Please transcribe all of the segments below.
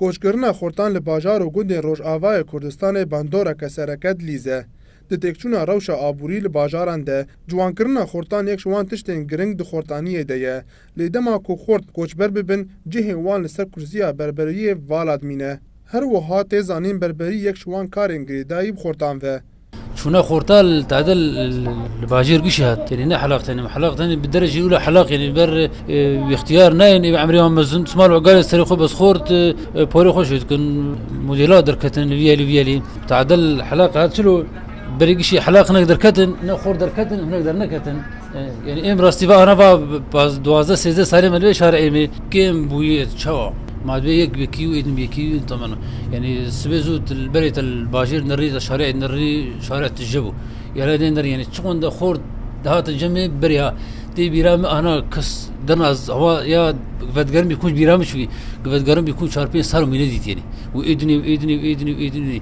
Koçkirina xurtan li bajar û gundên Rojavayê Kurdistanê bandoreke sereke dilîz e. Di têkçûna rewşa aborî li bajaran de, ciwankirina xurtan yek ji wan tiştên giring di xurtaniyê de ye. Lê dema ku xurt koçber bibin, cihê wan li ser kursiya berberiyê vala dimîne. Her wiha tê zanîn berberî yek ji wan karên girêdayî bi xurtan ve. Çûna xorta li tade li bajêr gişê hat tenê ne helaq tenê helaq tenê bi derê jî ûla helaq yenê ber ixtiyar nayên ê emrê wan mezin simal ogalê serê xwe bes xort porê xwe şê dikin modêla derketin li viyelî viyelî tadel helaq hat çilo berê gişê helaq hinek derketin ne xor derketin hinek derneketin Yani em rastî va ana va duwazdeh sêzdeh salê me li vê şarê Êmê kêm bûyê çawa ma divê yek wekî û êdim yekî tamam yani sibê zû berê te bajêr nirî te şarê nirî şare tije bû yara dê nirî yani çiqon de xort dihate cemê berê ha tê bîra min ana kes dina hava ya vedgerim bî kûç bîra min çûyî vedgerim bî kûç çar pênc sal wî nedîtîyenî û êdinî êdinî êdinî êdinî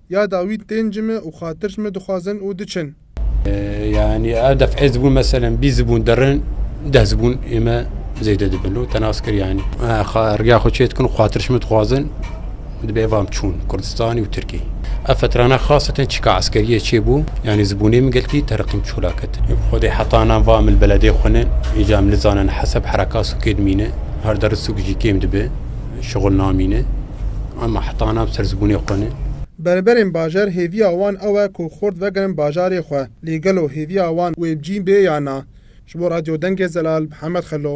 Ya Dawît tên ji min û xatir ji min dixwazin û diçin. Yanî a def ez bûn meselen bîst zibûn derin deh zibûn ê me zêde dibin û te nas kir yanî riya xwe çê dikin û xatir ji min dixwazin di bê vam çûn Kurdistanî û Tirkî. Ev fetrana xaseten çîka eskeriyê çê bû yanî zibûnê min gelkî teriqîm çûla ketin. Xwedê heta nan vam li beledê xwe ne îca min nizanin heseb hereka sûkê dimîne her der sûk jî kêm dibe şixul namîne. Em ahtana serzbûnê xwe ne. Berberên bajar hêviya wan ew e ku xurt vegirin bajarê xwe. Lê gelo hêviya wan wê bi cî bê ya na? Ji bo Radyo Dengê Zelal, Mihemed Xelo.